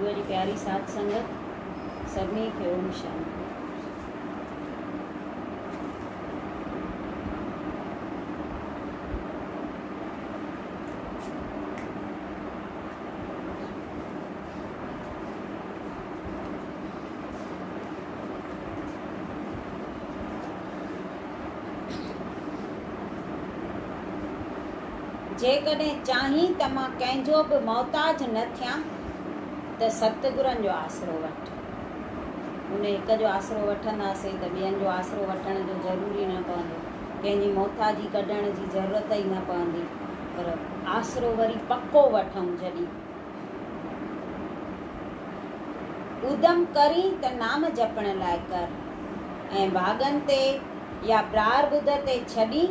گروء جي پياري ساٿ سنگت سڀني کي اوم شانتي. جيڪڏهن چاهين ته مان ڪنهن جو به محتاج نه ٿيان ته ستگرن جو آسرو وٺ. ان هڪ جو آسرو وٺنداسين ته ٻين جو آسرو وٺڻ جو ضروري نه پوندو. ڪنهن جي محتاجي ڪڍڻ جي ضرورت ئي نه پوندي. پر آسرو وري پڪو وٺون جڏهن اودم ڪرين ته نام جپڻ لاء ڪر ۽ ڀاڳن تي يا پراربڌ تي ڇڏين.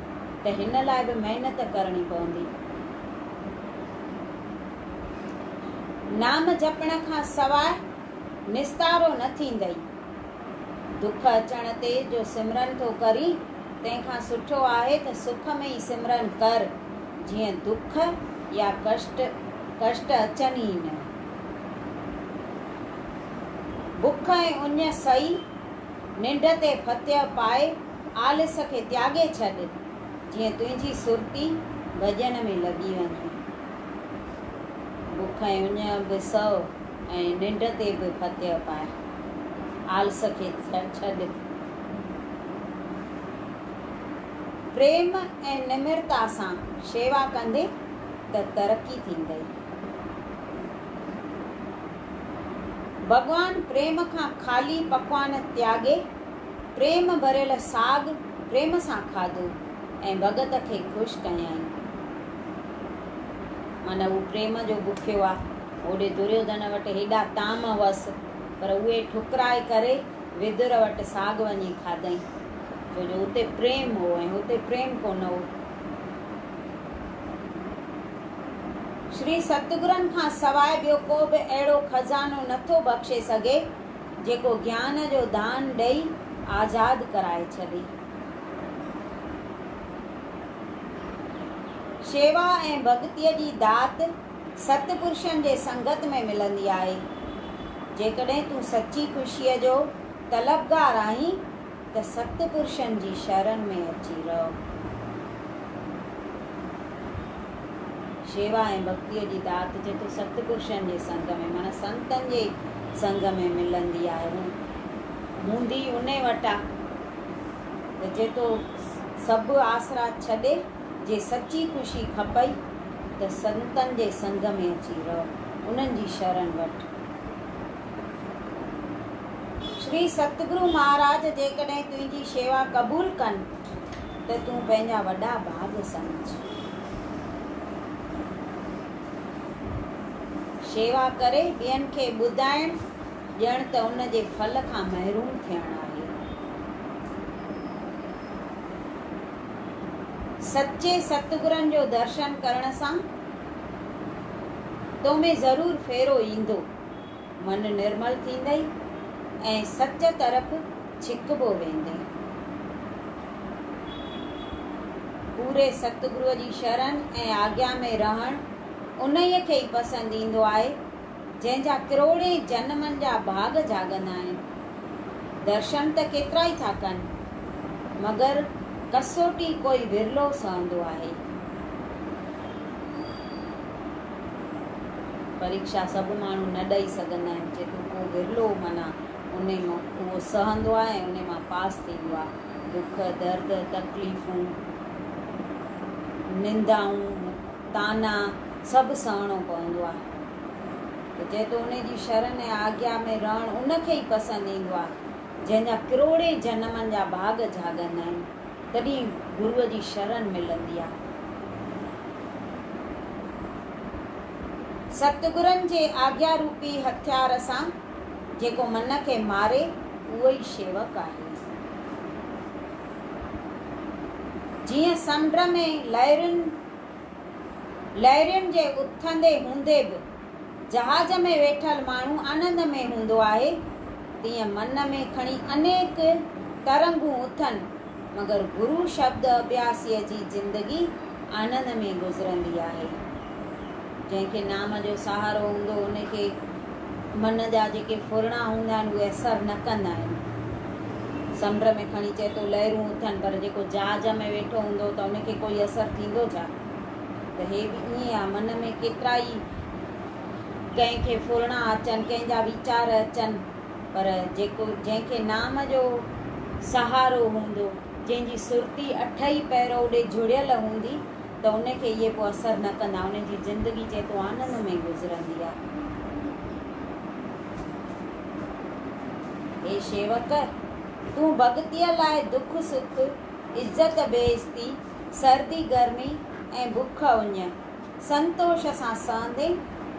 ته هن لاء به محنت ڪرڻي پوندي. نام جپڻ کان سواء نستارو نه ٿيندئي. دک اچڻ تي جو سمرن ٿو ڪرين، تنهن کان سٺو آهي ته سک ۾ ئي سمرن ڪر، جيئن دک يا ڪشٽ ڪشٽ اچن ئي نه. بک ۽ اڃ سهي، ننڊ تي ڦتيهه پائي، آلس کي تياڳي ڇڏ، جيئن تنهنجي سرتي ڀڄڻ ۾ لڳي وڃي. بک ۽ اڃ به سهه ۽ ننڊ تي به فتح پاء. آلس کي ڇڏ. پريم ۽ نمرتا سان شيوا ڪندين ته ترقي ٿيندئي. ڀڳوان پريم کان خالي پڪوان تياڳي پريم ڀريل ساڳ پريم سان کاڌو ۽ ڀڳت کي خوش ڪيائين. معنيٰ هو پريم جو بکيو آ. هوڏي دريوڌن وٽ هيڏا طعام هئس، پر اهي ٺڪرائي ڪري ويدر وٽ ساڳ وڃي کاڌئين، ڇو جو اتي پريم هو ۽ هتي پريم ڪونه هو. شري ستگرن کان سواء ٻيو ڪو به اهڙو خزانو نٿو بخشي سگهي، جيڪو گيان جو دان ڏئي آزاد ڪرائي ڇڏي. شيوا ۽ ڀڳتيء جي دات ست پرشن جي سنگت ۾ ملندي آهي. جيڪڏهن تون سچي خوشيء جو طلبگار آهين ته سخت پرشن جي شرن ۾ اچي رهو. شيوا ۽ ڀڳتيء جي دات جيڪو سخت پرشن جي سنگ ۾ معنيٰ سنتن جي سنگ ۾ ملندي آهي هو هوندي انهي وٽ آ ته جيڪو سڀ آسرا ڇڏي جي سچي خوشي کپئي ته سنتن جي سنگ ۾ اچي رهو انهن جي شرن وٺ. شري ستگرو مهاراج جيڪڏهن تنهنجي شيوا قبول ڪن ته تون پنهنجا وڏا ڀاڳ سمجهه. شيوا ڪري ٻين کي ٻڌائڻ ڄڻ ته ان جي ڦل کان محروم ٿيڻ آهي. سچي ستگرن جو درشن ڪرڻ سان تو ۾ ضرور ڦيرو ايندو. من نرمل ٿيندئي ۽ سچ طرف ڇڪبو ويندئي. پوري ستگروء جي شرن ۽ آگيا ۾ رهڻ انهيء کي ئي پسند ايندو آهي، جنهن جا ڪروڙين جنمن جا ڀاڳ جاڳندا آهن. درشن ته ڪيترائي ٿا ڪن، مگر ڪسوٽي ڪوئي ورلو سهندو آهي. پريڪشا سڀ ماڻهو نه ڏئي سگهندا آهن جيڪو ڪو ورلو معنيٰ ان اهو سهندو آهي ۽ ان مان پاس ٿيندو آهي. دک، درد، تڪليفون، نندائون، طعنا سڀ سهڻو پوندو آهي ته جيتو ان جي شرن ۽ آگيا ۾ رهڻ ان کي ئي پسند ايندو آهي جنهن جا ڪروڙين جنمن جا ڀاڳ جهاڳندا آهن. تڏهن گروء جي شرن ملندي آ. ستگرن جي آگيا روپي هٿيار سان جيڪو من کي ماري اهو ئي شيوڪ آهي. جيئن سمنڊ ۾ لهرين لهرين جي اٿندي هوندي به جهاز ۾ ويٺل ماڻهو آنند ۾ هوندو آهي، تيئن من ۾ کڻي انيڪ ترنگون اٿن، مگر گرو شبد اڀياسيء جي زندگي آنند ۾ گذرندي آهي. جنهن کي نام جو سهارو هوندو، ان کي من جا جيڪي ڦرڻا هوندا آهن، اهي اثر نه ڪندا آهن. سمنڊ ۾ کڻي چئي ٿو لهرون اٿن، پر جيڪو جهاز ۾ ويٺو هوندو ته ان کي ڪوئي اثر ٿيندو ڇا؟ ته هي به ائين آ، من ۾ ڪيترا ئي ڪنهن کي ڦرڻا اچن، ڪنهن جا ويچار اچن، پر جيڪو جنهن کي نام جو سهارو هوندو، جنهن جي سرتي اٺ ئي پهر اوڏي جڙيل هوندي ته ان کي اهي پوء اثر نه ڪندا، ان جي زندگي جيتو آنند ۾ گذرندي آ. اي شيوڪ! تون ڀڳتيء لاء دک سک، عزت بي عزتي، سردي گرمي ۽ بک اڃ سنتوش سان سهندين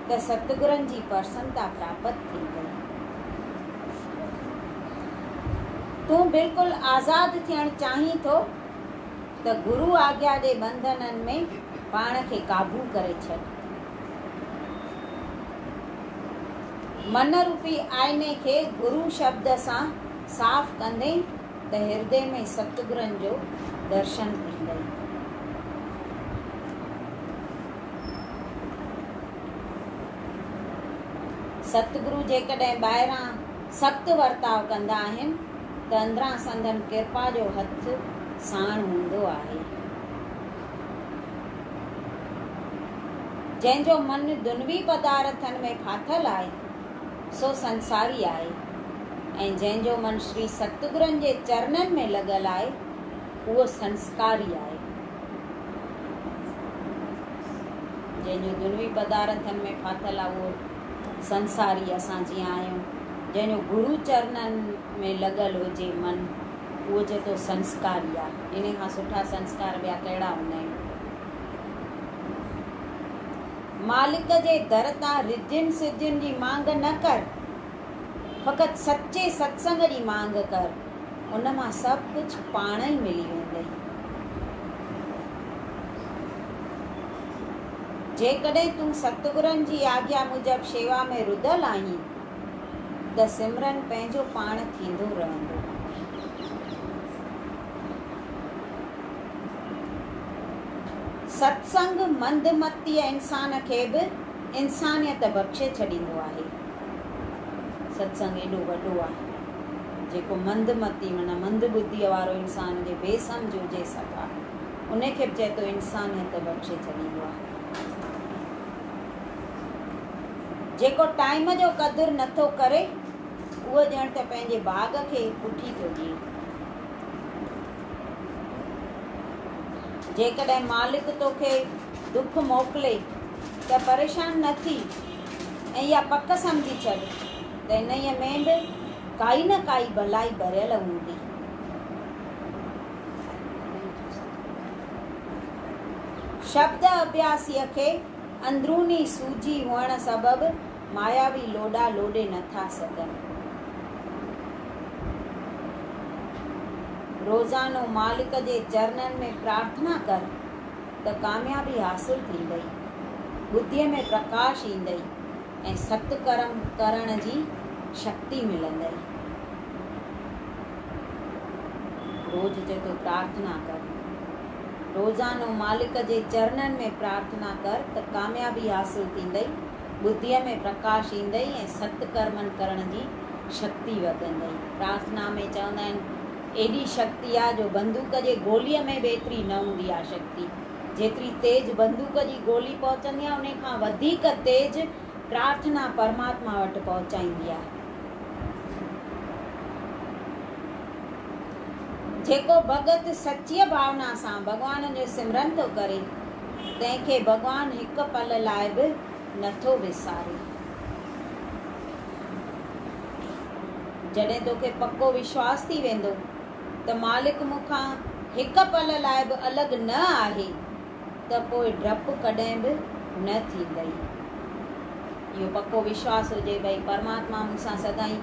ته ستگرن جي پرسنتا پراپت ٿيندئي. تون بلڪل آزاد ٿيڻ چاهين ٿو ته گرو آگيا جي ٻنڌنن ۾ پاڻ کي قابو ڪري ڇڏ. من روپي آئيني کي گرو شبد سان صاف ڪندين. ته هردي ۾ ستگرن جو درشن ٿيندئي. ستگرو جيڪڏهن ٻاهران سخت ورتاء ڪندا آهن ته اندران سندن ڪرپا جو هٿ ساڻ هوندو آهي. جنهن جو من دنوي پدارٿن ۾ ڦاٿل آهي، سو سنساري آهي ۽ جنهن جو من شري ستگرن جي چرنن ۾ لڳل آهي اهو سنسڪاري آهي. جنهن جو دنوي پدارٿن ۾ ڦاٿل آهي اهو سنساري اسان جيئن آهيون. جنهن جو گرو چرنن ۾ لڳل هجي من اهو چئي ٿو سنسڪاري آ. انهي کان سٺا سنسڪار ٻيا ڪهڙا هوندا آهن. مالڪ جي در تان رڌين سڌين جي مانگ نه ڪر، فقط سچي ستسنگ جي مانگ ڪر، ان مان سڀ ڪجهه پاڻ ئي ملي ويندئي. جيڪڏهن تون ستگرن جي آگيا موجب شيوا ۾ رڌل آهين ته سمرن پنهنجو پاڻ ٿيندو رهندو. ست سنگ منڌ متيء انسان کي به انسانيت بخشي ڇڏيندو آهي. ست سنگ ايڏو وڏو آهي جيڪو منڌ متي معنيٰ منڌ ٻڌيء وارو انسان جي بي سمجهه هجي سگهاء ان کي به چئي ٿو انسانيت بخشي ڇڏيندو آهي. جيڪو ٽائيم جو قدر نٿو ڪري اهو ڄڻ ته پنهنجي باغ کي پٺي ٿو ڏئي. جيڪڏهن مالڪ توکي ڏک موڪلي ته پريشان نه ٿي ۽ اها پڪ سمجهي ڇڏ ته انهيء ۾ به ڪائي نه ڪائي ڀلائي ڀريل هوندي. شبد اڀياسيء کي اندروني سوجهي هئڻ سبب ماياوي لوڏا لوڏي نه ٿا سگهن. روزانو مالڪ جي چرنن ۾ پرارٿنا ڪر ته ڪاميابي حاصل ٿيندئي، ٻڌيء ۾ پرڪاش ايندئي ۽ ست ڪرم ڪرڻ جي شڪتي ملندئي. روز جتو پرارٿنا ڪر. روزانو مالڪ جي چرنن ۾ پرارٿنا ڪر ته ڪاميابي حاصل ٿيندئي، ٻڌيء ۾ پرڪاش ايندئي ۽ ست ڪرمن ڪرڻ جي شڪتي وڌندئي. پرارٿنا ۾ چوندا آهن، ايڏي شڪتي آ جو بندوق جي گوليء ۾ به ايتري نه هوندي آ شڪتي. جيتري تيز بندوق جي گولي پهچندي آ، انهي کان وڌيڪ تيز پرارٿنا پرماتما وٽ پهچائيندي آ. جيڪو ڀڳت سچيء ڀاونا سان ڀڳوان جو سمرن ٿو ڪري، تنهن کي ڀڳوان هڪ پل لاء به نٿو وساري. جڏهن توکي پڪو وشواس ٿي ويندو ته مالڪ مون کان هڪ پل لاء به الڳ نه آهي ته پوء ڊپ ڪڏهن به نه ٿيندئي. اهو پڪو وشواس هجي ڀئي پرماتما مون سان سدائين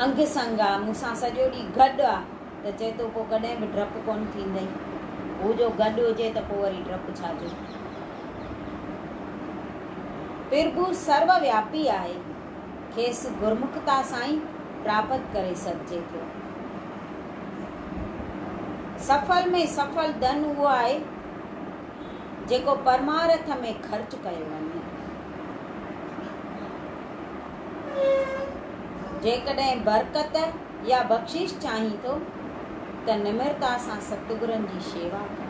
انگ سنگ آ، مون سان سڄو ڏينهن گڏ آ. ته چئي تو پوء ڪڏهن به ڊپ ڪونه ٿيندئي. هو جو گڏ هجي ته پوء وري ڊپ ڇا جو. پرڀو سرو وياپي آهي، کيس گرمکتا سان ئي پراپت ڪري سگهجي ٿو. سڦل ۾ سڦل ڌن اهو آهي، جيڪو پرمارٿ ۾ خرچ ڪيو وڃي. جيڪڏهن برڪت. يا بخشش چاهين ٿو ته نمرتا سان ستگرن جي شيوا ڪر.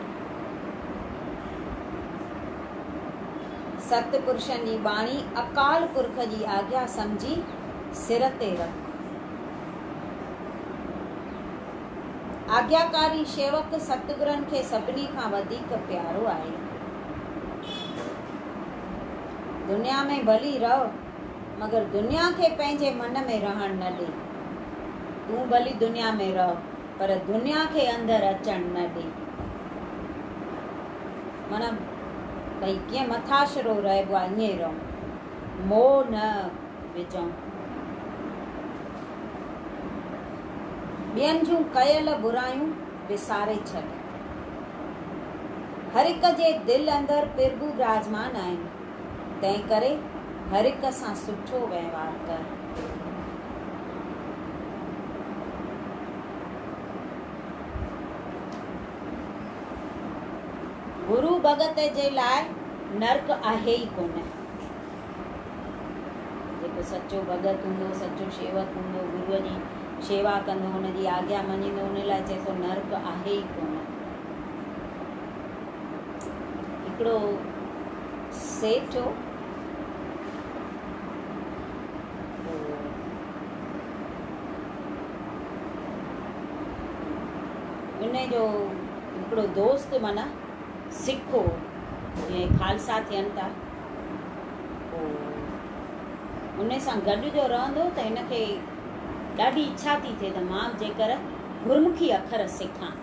ست پرشن جي ٻاڻي اڪال پرک جي آگيا سمجهي سر تي رک. آگياڪاري شيوڪ ستگرن کي سڀني کان وڌيڪ پيارو آهي. دنيا ۾ ڀلي رهه. مگر دنيا کي پنهنجي من ۾ رهڻ نه ڏي. تون ڀلي دنيا ۾ رهه پر دنيا کي اندر اچڻ نه ڏي. معنيٰ ڀئي ڪيئن مٿاشرو رهبو آهي ائين ئي رهون. موهه نه وجهون. ٻين جون ڪيل برايون وساري ڇڏ. هر هڪ جي دل اندر پرڀو براجمان آهن. تنهنڪري هرهڪ سان سٺو وهنوار ڪر. گرو ڀڳت جي لاء نرڪ آهي ئي ڪونه. جيڪو سچو ڀڳت هوندو، سچو شيوڪ هوندو، گروء جي شيوا ڪندو، هن جي آگيا مڃيندو، ان لاء چئي ٿو نرڪ آهي ئي ڪونه. هڪڙو سيٺ هو. ان جو هڪڙو دوست معنيٰ سک هو. جيئن خالصا ٿين ٿا. ان سان گڏ جو رهندو ته هن کي ڏاڍي اڇا ٿي ٿئي ته مان به جيڪر گرمکي اکر سکان.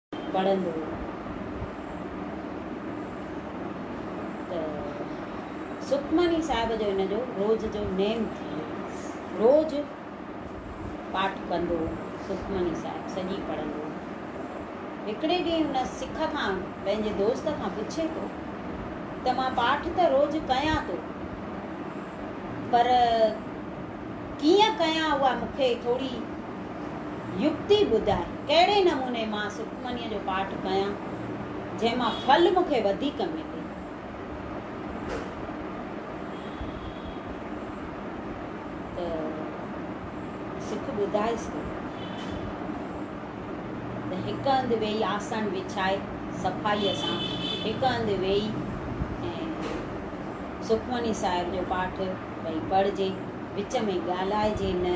پڙهندو ته سکمني صاحب جو ان جو روز جو نيم ٿي ويو. روز پاٺ ڪندو، سکمني صاحب سڄي پڙهندو. هڪڙي ڏينهن ان سک کان پنهنجي دوست کان پڇي ٿو ته مان پاٺ ته روز ڪيان ٿو پر ڪيئن ڪيان اها مون کي ٿوري يڪتي ٻڌاء ڪهڙي نموني مان سکمنيء جو پاٺ ڪيان، جنهن مان ڦل مون کي وڌيڪ ملي. ته سک ٻڌائيس ٿو ته هڪ هنڌ ويهي آسڻ وڇائي صفائيء سان هڪ هنڌ ويهي ۽ سکمني صاحب جو پاٺ ڀئي پڙهجي، وچ ۾ ڳالهائجي نه،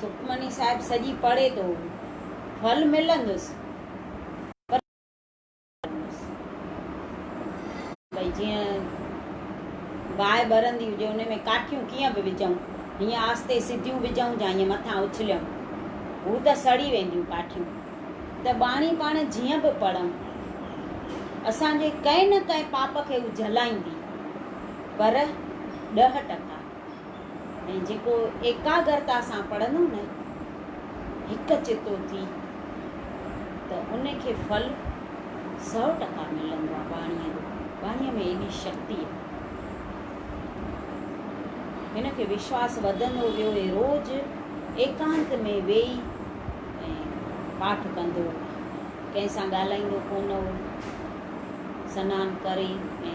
سکمني صاحب سڄي پڙهي ٿو ڦل ملندس پر ڀئي جيئن باهه ٻرندي هجي ان ۾ ڪاٺيون ڪيئن به وجهون هيئن آستي سڌيون وجهون جا هيئن مٿان اڇليون هو ته سڙي وينديون ڪاٺيون ته ٻاڻي پاڻ جيئن به پڙهون اسان جي ڪنهن نه ڪنهن پاپ کي هو جهلائيندي پر ڏهه ٽڪا ۽ جيڪو ايڪاگرتا سان پڙهندو نه هڪ چتو ٿي ته ان کي ڦل سؤ ٽڪا ملندو آهي ٻاڻيء جو ٻاڻيء ۾ ايڏي شڪتي آهي هن کي وشواس وڌندو ويو هي روز ايڪانت ۾ ويهي ۽ پاٺ ڪندو ڪنهن سان ڳالهائيندو ڪونه هو سنان ڪري ۽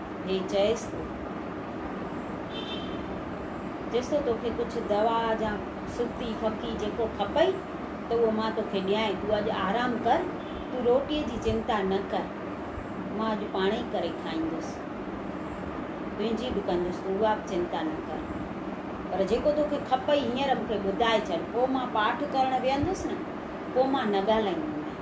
هي چيس ٿو، چيس ٿو توکي ڪجهه دوا يا سڪي ڦڪي جيڪو کپئي ته اهو مان توکي ڏيانء، تون اڄ آرام ڪر، تون روٽيء جي چنتا نه ڪر، مان اڄ پاڻ ئي ڪري کائيندس، تنهنجي به ڪندس، تون اها به چنتا نه ڪر، پر جيڪو توکي کپئي هينئر مون کي ٻڌائي ڇڏ، پوء مان پاٺ ڪرڻ ويهندس نه، پوء مان نه ڳالهائيندومانء.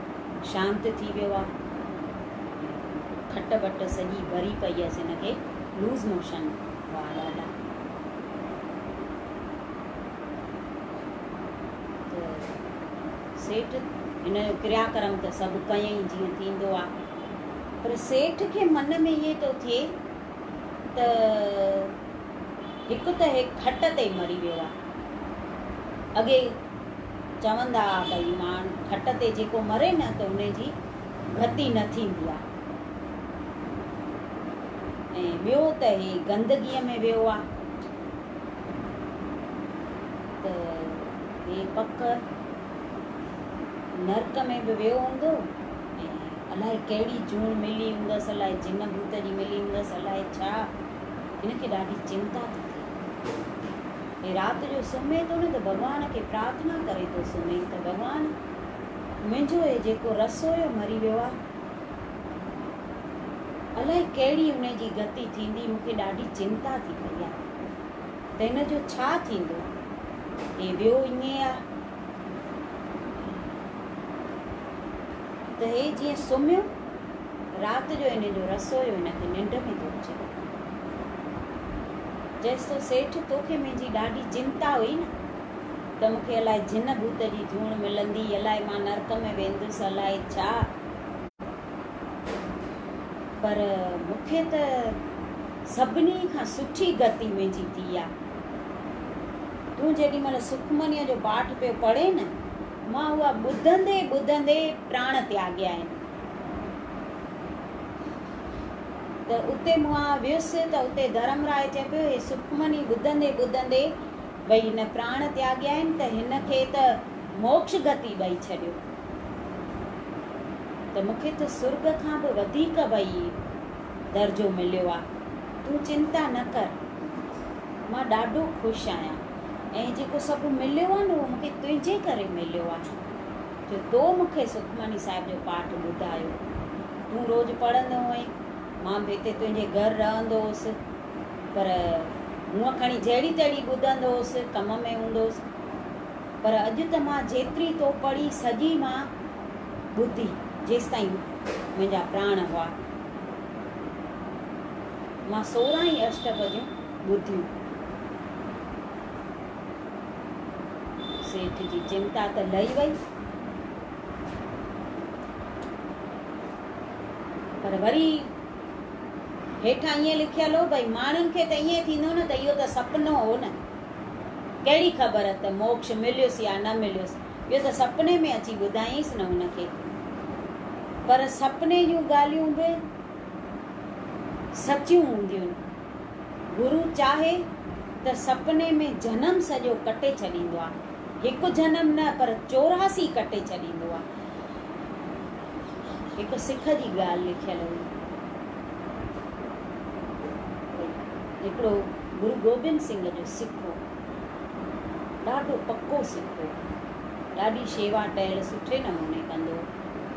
شانت ٿي ويو آ. کٽ وٽ سڄي ڀري پئي هيس هن کي لوز موشن هئا ڏاڍا ته سيٺ هن جو ڪريا ڪرم ته سڀ ڪيئي جيئن ٿيندو آ پر سيٺ کي من ۾ ائين ٿو ٿئي ته هڪ ته هي کٽ تي مري ويو آ اڳي چوندا ها ته هي ماڻهن کٽ تي جيڪو مري نه ته ان جي ڀتي نه ٿيندي آهي ۽ ٻيو ته هي گندگيء ۾ ويو آهي ته هي پڪ نرڪ ۾ به ويو هوندو الائي ڪهڙي جوڻ ملي هوندس الائي جن ڀوت جي ملي هوندس الائي ڇا هن کي ڏاڍي چنتا ٿي ٿئي هي رات جو سمهي ٿو نه ته ڀڳوان کي پرارٿنا ڪري ٿو سمهي ته ڀڳوان منهنجو هي جيڪو رسويو مري ويو آهي الائي ڪهڙي ان جي گتي ٿيندي مون کي ڏاڍي چنتا ٿي پئي آهي ته هن جو ڇا ٿيندو هي ويو ائين آهي ته هي جيئن سمهيو رات جو انهن جو رس هيو هن کي ننڊ ۾ ٿو اچي ڪو ڪم ڪرڻ چيس ٿو سيٺ توکي منهنجي ڏاڍي چنتا هئي نه ته مون کي الاء جن ڀوت جي جوڻ ملندي الاء مان نرڪ ۾ ويندس الاء ڇا پر مون کي ته سڀني کان سٺي گتي منهنجي ٿي آ تون جيڏي مهل سکمنيء جو پاٺ پيو پڙهين نه مان اها ٻڌندي ٻڌندي پراڻ تياڳيائين. ته اتي مون آء ويس ته اتي ڌرم راء چئي پيو هي سکمني ٻڌندي ٻڌندي ڀئي هن پراڻ تياڳيائين ته هن کي ته موڪش گتي ڏئي ڇڏيو ته مون کي ته سرڳ کان به وڌيڪ ڀئي درجو مليو آ تون چنتا نه ڪر مان ڏاڍو خوش آهيان. ۽ جيڪو سڀ مليو آهي نه اهو مونکي تنهنجي ڪري مليو آهي جو تو مونکي سکمڻي صاحب جو پاٺ ٻڌايو. تون روز پڙهندو هئين، مان به هتي تنهنجي گهر رهندو هوس پر هونء کڻي جهڙي تهڙي ٻڌندو هوس، ڪم ۾ هوندو هوس پر اڄ ته مان جيتري تو پڙهي سڄي مان ٻڌي جيستائين منهنجا پراڻ هئا. مان سورهن ئي اشٽپديون. ٻڌي سيٺ جي چنتا ته لهي وئي، پر وري هيٺان ائين لکيل هو ڀئي ماڻهن کي ته ائين ٿيندو نه ته اهو ته سپنو هو نه، ڪهڙي خبر ته موڪش مليس يا نه مليس، اهو ته سپني ۾ اچي ٻڌايائينس نه هن کي. پر سپني جون ڳالهيون به سچيون هونديون. گرو چاهي ته سپني ۾ جنم سڄو ڪٽي ڇڏيندو آ. هڪ جنم نه پر چوراسي ڪٽي ڇڏيندو آ. هڪ سک جي ڳالهه لکيل هئي ڀئي هڪڙو گرو گوبند سنگهه جو سک هو. ڏاڍو پڪو سک هو. ڏاڍي شيوا ٽهل سٺي نموني ڪندو هو.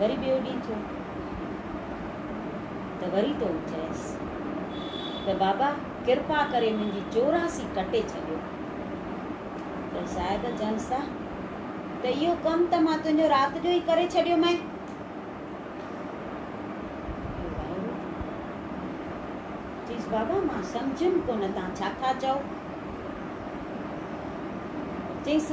وري ٻيو ڏينهن ٿيو ته وري تو چيس ته بابا ڪرپا ڪري منهنجي چوراسي ڪٽي ڇڏيو ته صاحب چينس ته اهو ڪم ته مان تنهنجو رات جو ئي ڪري ڇڏيو مئي چيس بابا مان سمجهيم ڪونه تان ڇا ٿا چئو چيس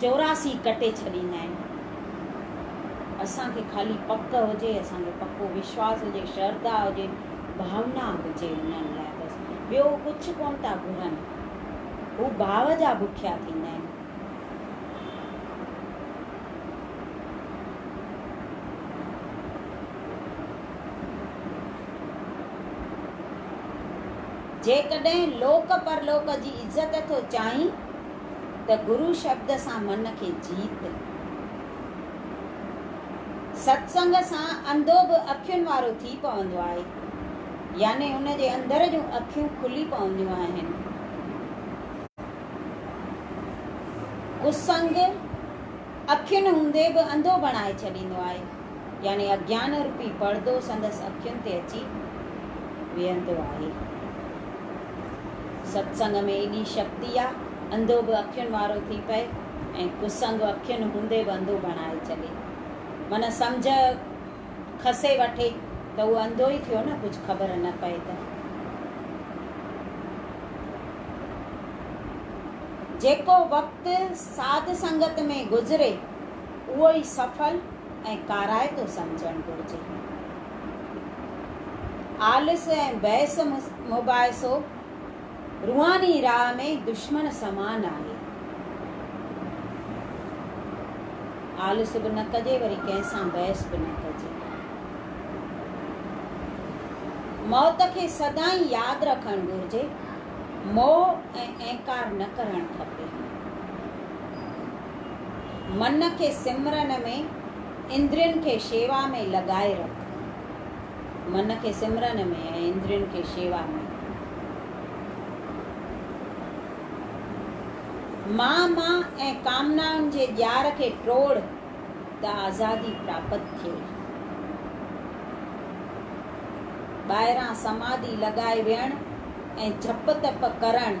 چوراسی ڪٽي ڇڏيندا آهن. اسان کي خالي پڪ هجي، اسان کي پڪو وشواس هجي، شرڌا هجي، ڀاونا هجي انهن لاء بس. ٻيو هو ڪجهه ڪونه ٿا گهرن. هو ڀاو جا بکيا ٿيندا آهن. جيڪڏهن لوڪ پرلوڪ جي عزت ٿو چاهين. ته گرو شبد سان من کي جيت. ستسنگ سان انڌو به اکين وارو ٿي پوندو آهي، يعني ان جي اندر جون اکيون کلي پونديون آهن. ڪسنگ اکين هوندي به انڌو بڻائي ڇڏيندو آهي. يعني اگيان روپي پڙدو سندس اکين تي اچي ويهندو آهي. ستسنگ ۾ ايڏي شڪتي آ، انڌو به اکين وارو ٿي پئي ۽ ڪسنگ اکين هوندي به انڌو بڻائي ڇڏي. من سمجهه کسي وٺي ته اهو انڌو ئي ٿيو نه ڪجهه خبر نه پئي ته. جيڪو وقت ساڌ سنگت ۾ گذري. اهو ئي سڦل ۽ ڪارائتو سمجهڻ گهرجي. آلس ۽ بحث مباحثو روحاني راهه ۾ دشمن سمان آهي. آلس به نه ڪجي وري ڪنهن سان بحث به نه ڪجي. موت کي سدائين ياد رکڻ گهرجي، موهه ۽ اهنڪار نه ڪرڻ کپي. من کي سمرن ۾، اندرين کي شيوا ۾ لڳائي رک. من کي سمرن ۾ ۽ اندرين کي شيوا ۾. مان مان ۽ ڪامنائن جي ڄار کي ٽوڙ ته آزادي پراپت ٿئي. ٻاهران سماڌي لڳائي ويهڻ ۽ جپ تپ ڪرڻ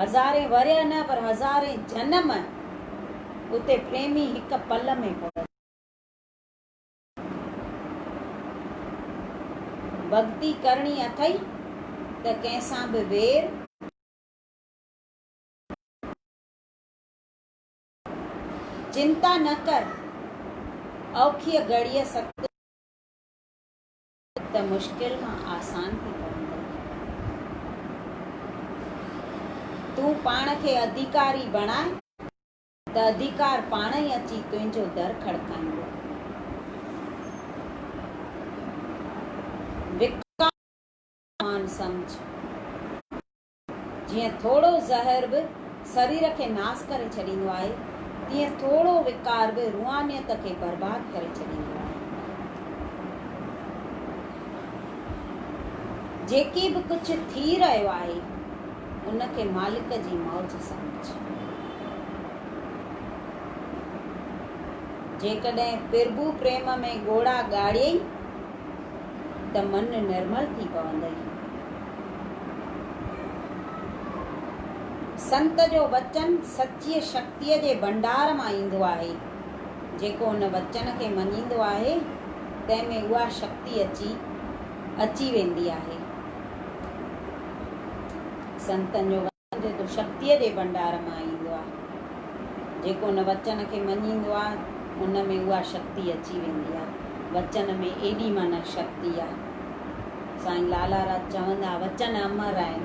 هزارين ورهيه نه پر هزارين جنم اتي پريمي هڪ پل ۾ پڙهن. ڀڳتي ڪرڻي اٿئي ته ڪنهن سان به وير. چنتا نه ڪر اوکيء گهڙيء ست. ته مشڪل مان آسان ٿي پوندو. تون پاڻ کي اڌيڪاري بڻاء ته اڌيڪار پاڻ ئي اچي تنهنجو در کڙڪائيندو. وڪاڻ جو مان سمجهه. جيئن ٿورو زهر به سرير کي ناس ڪري ڇڏيندو آهي، تيئن ٿورو وقار به روحانيت کي برباد ڪري ڇڏيندو آهي. جيڪي به ڪجهه ٿي رهيو آهي، ان کي مالڪ جي موج سمجهه. جيڪڏهن پرڀو پريم ۾ ڳوڙها ڳاڙيئي ته من نرمل ٿي پوندئي. سنت جو وچن سچيء شڪتيء جي ڀنڊار مان ايندو آهي. جيڪو ان وچن کي مڃيندو آهي، تنهن ۾ اها شڪتي اچي اچي ويندي آهي. سنتن جو وچن. جيڪو شڪتيء جي ڀنڊار مان ايندو آهي. جيڪو ان وچن کي مڃيندو آهي، ان ۾ اها شڪتي اچي ويندي آهي. وچن ۾ ايڏي مانهن شڪتي آهي. سائين لالا راج چوندا، وچن امر آهن.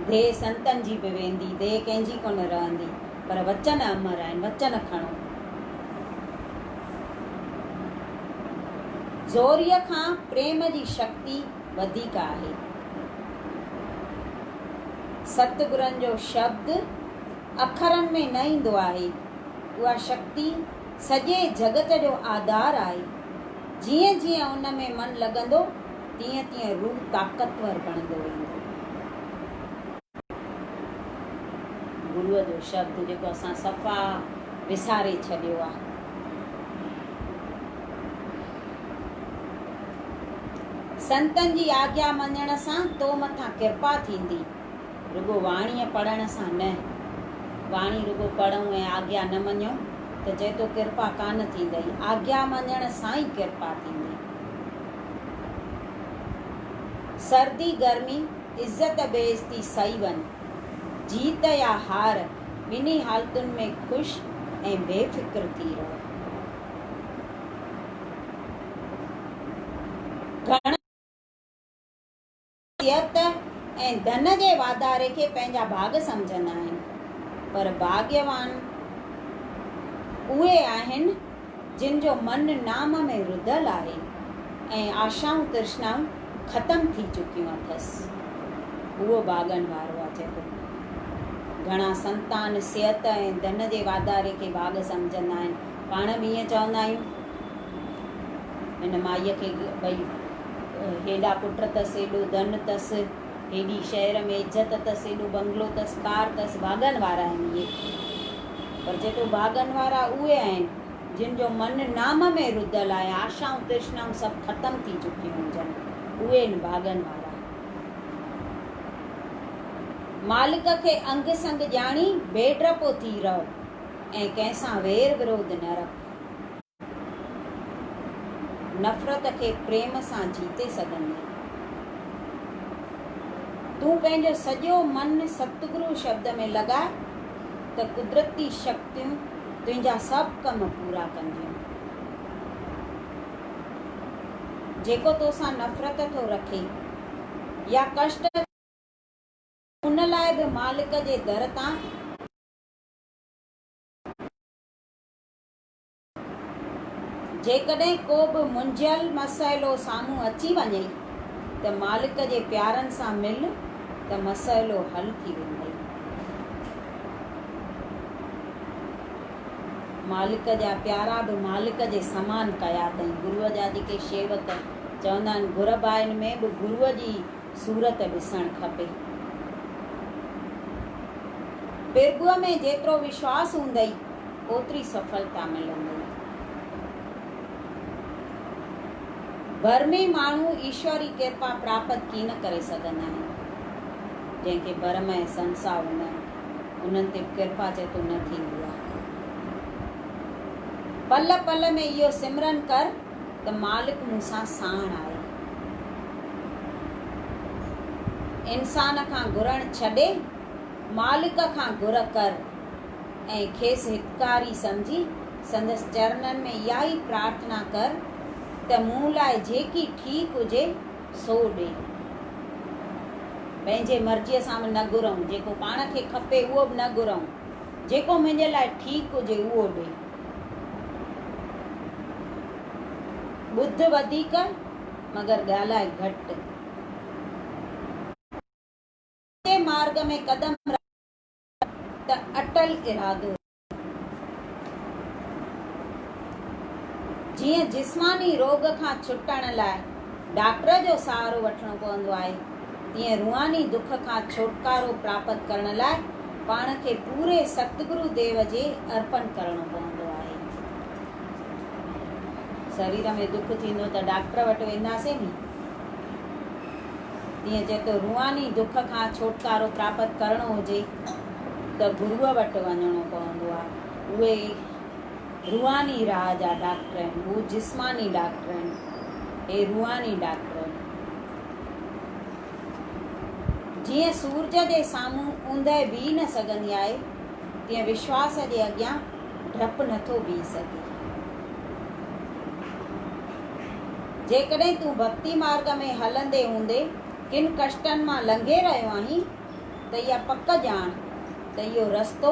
ديهه سنتن جي به ويندي، ديهه ڪنهن جي ڪونه رهندي، پر وچن امر آهن، وچن کڻو. زوريء کان پريم جي شڪتي. وڌيڪ آهي. ستگرن جو شبد اکرن ۾ نه ايندو آهي. اها شڪتي سڄي جڳت جو آڌار آهي. جيئن جيئن ان ۾ من لڳندو تيئن تيئن روح طاقتور بڻندو ويندو. گروء جو شبد جيڪو اسان صفا وساري ڇڏيو آ. سنتن جي آگيا مڃڻ سان تو مٿان ڪرپا ٿيندي. رڳو واڻيء پڙهڻ سان نه. واڻي رڳو پڙهون ۽ آگيا نه مڃون ته چئه تو ڪرپا ڪانه ٿيندئي. آگيا مڃڻ سان ئي ڪرپا ٿيندي. سردي گرمي. عزت بيس ٿي سهي وڃ. جيت يا هار ٻنهي حالتن ۾ خوش ۽ بي فڪر ٿي رهه. گهڻن ماڻهن صحت ۽ ڌن جي واڌاري کي پنهنجا ڀاڳ سمجهندا آهن پر ڀاڳيوان اهي آهن، جن جو من نام ۾ رڌل آهي ۽ آشائون ترشنائون ختم ٿي چڪيون اٿس. هو ڀاڳن وارو آ جيڪو گهڻا سنتان، صحت ۽ ڌن جي واڌاري کي ڀاڳ سمجهندا آهن. پاڻ به ائين چوندا آهيون. هن مائيء کي ٻئي هيڏا پٽ اٿس، هيڏو ڌن اٿس. هيڏي شهر ۾ عزت اٿس، ايڏو بنگلو اٿس، ڪار اٿس، ڀاڳن وارا آهن اهي. پر چيٿو ڀاڳن وارا اهي آهن، جن جو من نام ۾ رڌل آهي ۽ آشائون ترشنائون سڀ ختم ٿي چڪيون هجن، اهي آهن ڀاڳن وارا. مالڪ کي انگ سنگ ڄاڻي، بي ڊپو ٿي رهه ۽ ڪنهن سان وير ورود نه رک. نفرت کي پريم سان جيتي سگهندين. تون پنهنجو سڄو من ستگرو شبد ۾ لڳاء ته قدرتي شڪتيون تنهنجا سڀ ڪم پورا ڪنديون. جيڪو توسان نفرت ٿو رکي يا ڪشٽ ٿو ڏئي ان لاء به مالڪ جي در تان ڪري ٿو. جيڪڏهن ڪو به منجهيل مسئلو سامهون اچي وڃئي ته مالڪ جي پيارن سان مل ته مسئلو حل ٿي ويندئي. مالڪ جا پيارا به مالڪ جي سمان ڪيا تئين گروء جا جيڪي شيوڪ چوندا آهن گهرڀائن ۾ به گروء جي صورت ڏسڻ کپي. پرڀوء ۾ جيترو وشواس هوندئي، اوتري سڦلتا ملندئي. ڀرمي ماڻهو ايشور ري ڪرپا پراپت ڪين ڪري سگهندا آهن. جنهن کي ڀرم ۽ سنساء هوندن، انهن تي به ڪرپا چيتو نه ٿيندي آهي. پل پل ۾ اهو سمرن ڪر. ته مالڪ مون سان ساڻ آهي. انسان کان گهرڻ ڇڏي مالڪ کان گهر ڪر ۽ کيس هتڪاري سمجهي سندس چرنن ۾ اها ئي پرارٿنا ڪر ته مون لاء جيڪي ٺيڪ هجي سو ڏي. پنهنجي مرضيء سان به نه گهرئون، جيڪو پاڻ کي کپي اهو به نه گهرئون. جيڪو منهنجي لاء ٺيڪ هجي اهو ڏي. ٻڌ وڌيڪ مگر ڳالهاء گهٽ. سچي مارگ ۾ قدم رک ته اٽل ارادو رک. جيئن جسماني روڳ کان ڇٽڻ لاء. ڊاڪٽر جو سهارو وٺڻو پوندو آهي، تيئن روحاني دک کان ڇوٽڪارو پراپت ڪرڻ لاء پاڻ کي پوري ستگرو ديو جي ارپڻ ڪرڻو پوندو آهي. سرير ۾ دک ٿيندو ته ڊاڪٽر وٽ وينداسين ني، تيئن جيڪو روحاني دک کان ڇوٽڪارو پراپت ڪرڻو هجي ته گروء وٽ وڃڻو پوندو آهي. اهي روحاني راء جا ڊاڪٽر آهن، هو جسماني ڊاڪٽر آهن، هي روحاني ڊاڪٽر آهن. جيئن سورج جي سامهون اوندهه بيهي نه سگهندي آهي، تيئن وشواس جي اڳيان ڊپ نه ٿو بيهي سگهي. جيڪڏهن تون ڀڳتي مارگ ۾ هلندي هوندي ڪن ڪشٽن مان لنگهي رهيو آهين ته اها پڪ ڄاڻ ته اهو رستو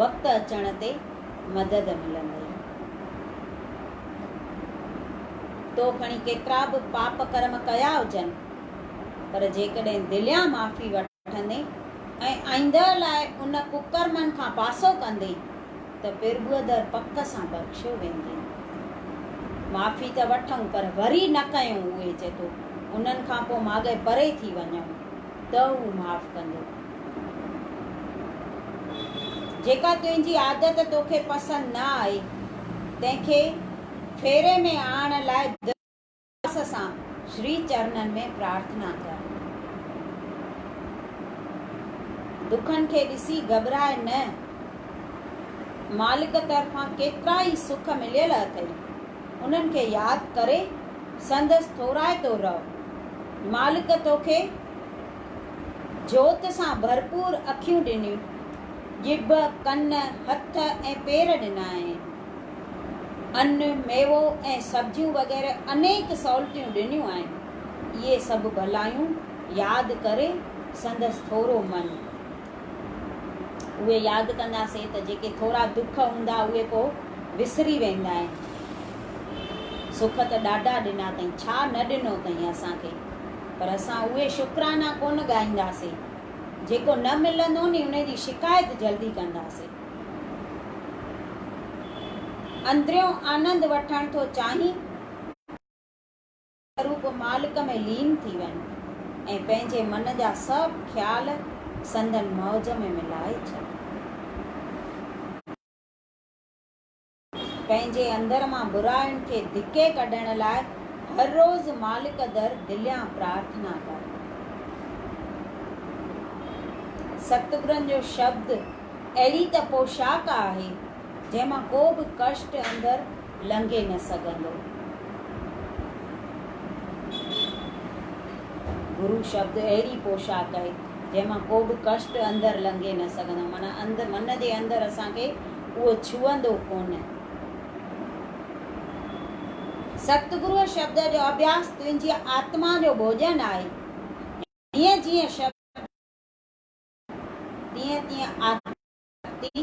وقت اچڻ تي مدد ملندئي. تو کڻي ڪيترا به پاپ ڪرم ڪيا هجن، پر جيڪڏهن دليان معافي وٺندين ۽ آئينده لاء ان ڪڪرمن کان پاسو ڪندين ته پرڀوءدر پڪ سان بخشيو ويندين. معافي ته وٺئون پر وري نه ڪيون اهي جدو انهن کان پوء ماڳئي پري ٿي وڃئون. ته هو معاف ڪندو. جيڪا تنهنجي عادت توکي پسند نه آئي، تنهن کي ڦيري ۾ آڻڻ لاء دل اخلاص سان شري چرنن ۾ پرارٿنا ڪر. دکن کي ڏسي گهٻراء نه. مالڪ طرفان ڪيترا ئي سک مليل اٿئي. انهن کي ياد ڪري سندس ٿورائتو رهه. مالڪ توکي جوت سان ڀرپور اکيون ڏنيون، ڄڀ، ڪن، هٿ ۽ پير ڏنائين. ان، ميوو ۽ سبزيون وغيره انيڪ سهولتيون ڏنيون آهن. اهي سڀ ڀلايون ياد ڪري سندس ٿورو من. اهي ياد ڪنداسين ته جيڪي ٿورا دک هوندا اهي پوء وسري ويندا آهن. سک ته ڏاڍا ڏنا اٿئي، ڇا نه ڏنو اٿئي اسان کي، پر اسان اهي شڪرانا ڪونه ڳائينداسين. جيڪو نه ملندو ني ان جي شڪايت جلدي ڪنداسين. اندريون آنند وٺڻ ٿو چاهين؟ هو به مالڪ ۾ لين ٿي وين ۽ پنهنجي من جا سڀ خيال سندن مئوج ۾ ملائي ڇڏين. پنهنجي اندر مان برائين کي ڌڪي ڪڍڻ لاء هر روز مالڪ در دليان پرارٿنا ڪر. ستگرن جو شبد اهڙي ته پوشاڪ آهي. جنهن مان ڪو به ڪشٽ اندر لنگهي نه سگهندو. گرو شبد اهڙي پوشاڪ آهي، جنهن مان ڪو به ڪشٽ اندر لنگهي نه سگهندو. معنيٰ اندر من جي اندر اسان کي اهو ڇهندو ڪونه. ستگرو شبد جو اڀياس تنهنجي آتما جو ڀوڄن آهي. جيئن جيئن شبد ٻڌندين تيئن تيئن آتما جي شڪتي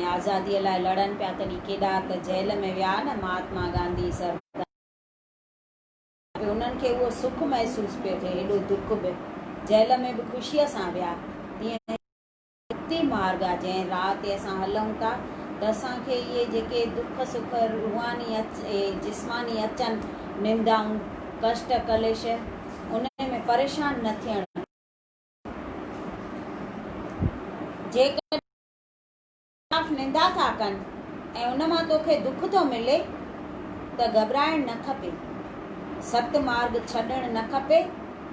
۽ آزاديء لاء لڙن پيا تڏهن ڪيڏا ته جيل ۾ ويا نه مهاتما گانڌي سربدار پي انهن کي اهو سک محسوس پيو ٿئي هيڏو دک به جيل ۾ به خوشيء سان ويا تيئن هي مڪتي مارگ آ جنهن راهه تي اسان هلون ٿا ته اسان کي اهي جيڪي دک سک روحاني اچ ۽ جسماني اچن نندائون ڪشٽ ڪليش انهي ۾ پريشان نه ٿيڻ گهرجي جيڪڏهن خلاف نندا ٿا ڪن ۽ ان مان توکي دک ٿو ملي ته گهٻرائڻ نه کپي. ست مارڳ ڇڏڻ نه کپي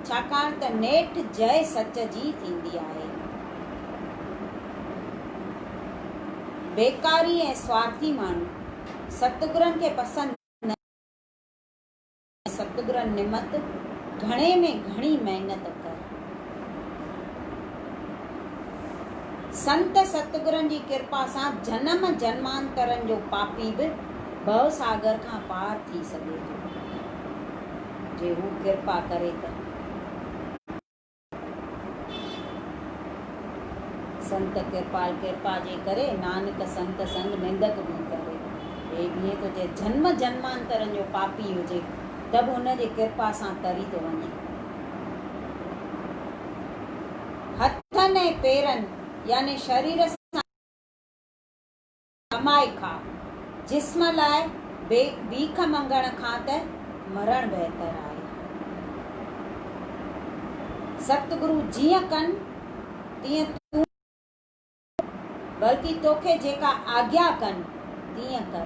ڇاڪاڻ ته نيٺ جئه سچ جي ٿيندي آهي. بيڪاري ۽ سوارٿي ماڻهو ستگرن کي پسند نه. ستگرن نمت گهڻي ۾ گهڻي محنت ڪر. سنت ستگرن جي ڪرپا سان جنم جنمانترن جو پاپي به ڀو ساگر کان پار ٿي سگهي ٿو جي هو ڪرپا ڪري ته. سنت ڪرپال ڪرپا جي ڪري، نانڪ سنت سنگ نندڪ ڀي ڪري. هي ڀينء تو جي جنم جنمانترن جو پاپي هجي، ته به هن جي ڪرپا سان تري ٿو وڃي. هٿن ۽ پيرن يعني شرير سان. ڪمائي کاء، جسم لاء بي بيک مڱڻ کان ته مرڻ بهتر آهي. ستگرو جيئن ڪن تيئن تون بلڪه توکي جيڪا آگيا ڪن تيئن ڪر.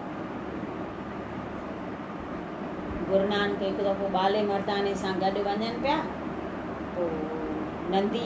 گرونانڪ هڪ دفعو ٻالي مرداني سان گڏ وڃن پيا تو نندي.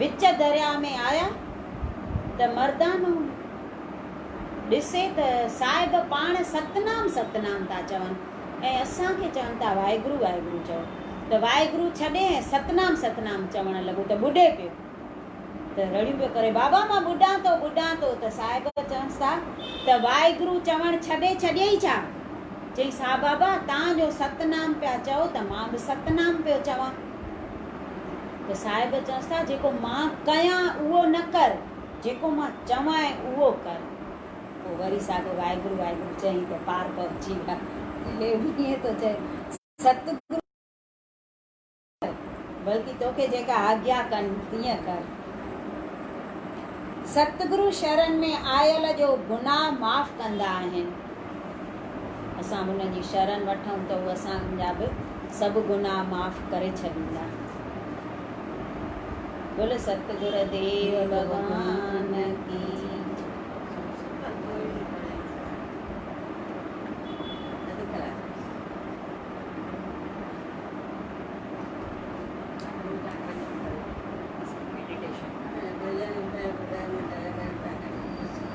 وچ درياء ۾ آيا ته مردانو ڏسي ته صاحب پاڻ ستنام ستنام ٿا چون ۽ اسان کي چون ٿا واحگرو واحگرو چئو ته واحگرو ڇڏي ۽ ستنام ستنام چوڻ لڳو ته ٻڏي پيو ته رڙيون پيو ڪري بابا مان ٻڏان ٿو ٻڏان ٿو ته صاحب چونس ٿا ته واحگرو چوڻ ڇڏي ڇڏيئي ڇا؟ چيس ها بابا تان جو ستنام پيا چئو ته مان به ستنام پيو چوان. ته صاحب چئنس ٿا جيڪو مان ڪيان اهو نه ڪر، جيڪو مان چوانء اهو ڪر. پوء وري ساڳو واحگرو واحگرو چئي ته پار پهچي ويا. هي ائين ٿو چئي ستگرو نه ڪر، بلڪه توکي جيڪا آگيا ڪن تيئن ڪر. ستگرو شرن ۾ آيل جو گناهه معاف ڪندا آهن. اسان هن جي شرن وٺون ته هو اسان جا به سڀ گناهه معاف ڪري ڇڏيندا. بول ستگر ديو ڀڳوان ڪي.